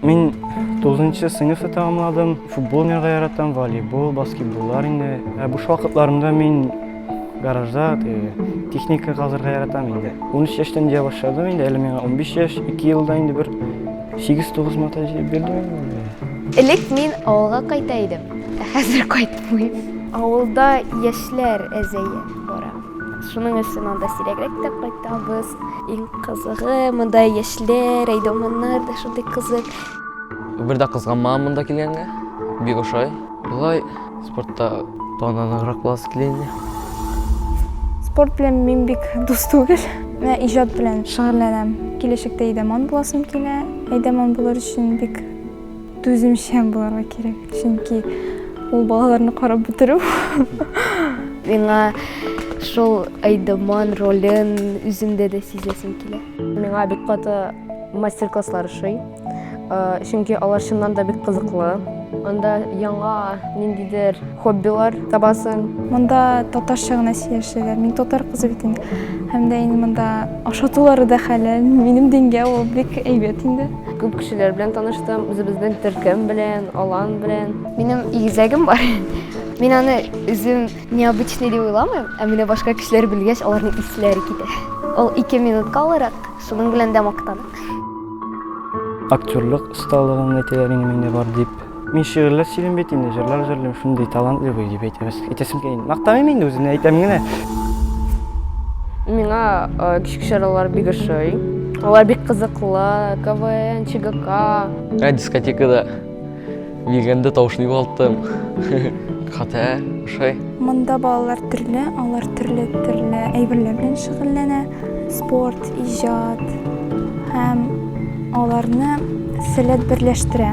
Мин 9 сыйныфны тәмамладым. Футбол уйнарга яратам, волейбол, баскетболлар инде. Ә буш вакытларымда мин гаражда техника казырга яратам инде. 13 яшьтән дия башладым инде, әле миңа 15 яшь, 2 елда инде бер 8-9 мата җыеп бирдем. Элек мин авылга кайта идем, ә хәзер кайтмыйм. Авылда яшьләр әзәе бара. Шуның өчен анда сирәгрәк тә кайтабыз. Иң кызыгы, монда яшьләр, әйдәманнар да шундый кызык. Бер дә кызганмам монда килгәнгә. Бик ошай. Болай спортта таныграк буласы килә инде. Спорт белән мин бик дус түгел. Менә иҗат белән шөгыльләнәм. Киләчәктә әйдәман буласым килә. Әйдәман булыр өчен бик Түземчән буларга кирәк, чөнки ул балаларны карап бетерү. Миңа шул Айдаман ролен үземдә дә сизәсем килә. Миңа бик каты мастер-класслар ошый, чөнки алар чыннан да бик кызыклы. Анда яңа ниндидер хоббилар табасың. Монда татарча гына сөйләшәләр. Мин татар кызы бит инде. Һәм дә инде монда ашатулары да хәләл. Минем дингә ул бик әйбәт инде. Күп кешеләр белән таныштым, үзебезнең төркем белән, алан белән. Минем игезәгем бар. Мин аны үзем необычный дип уйламыйм, ә менә башка кешеләр белгәч, аларның исләре китә. Ул 2 минутка алырак, шуның белән дә мактанам. Актерлык осталыгым әйтәләр инде миндә бар дип. Мин шигырьләр сөйлим бит инде, җырлар җырлыйм, шундый талантлы бу дип әйтәбез. Әйтәсем килә. Мактамыйм инде үземне, әйтәм генә. Миңа кичке чаралар бик ошый. Алар бик кызыклы, КВН, ЧГК. Ә дискотекада бигәндә тавышны югалттым. Хата, ошай. Монда балалар төрле, алар төрле-төрле әйберләр белән шөгыльләнә. Спорт, Иҗат һәм аларны сәләт берләштерә.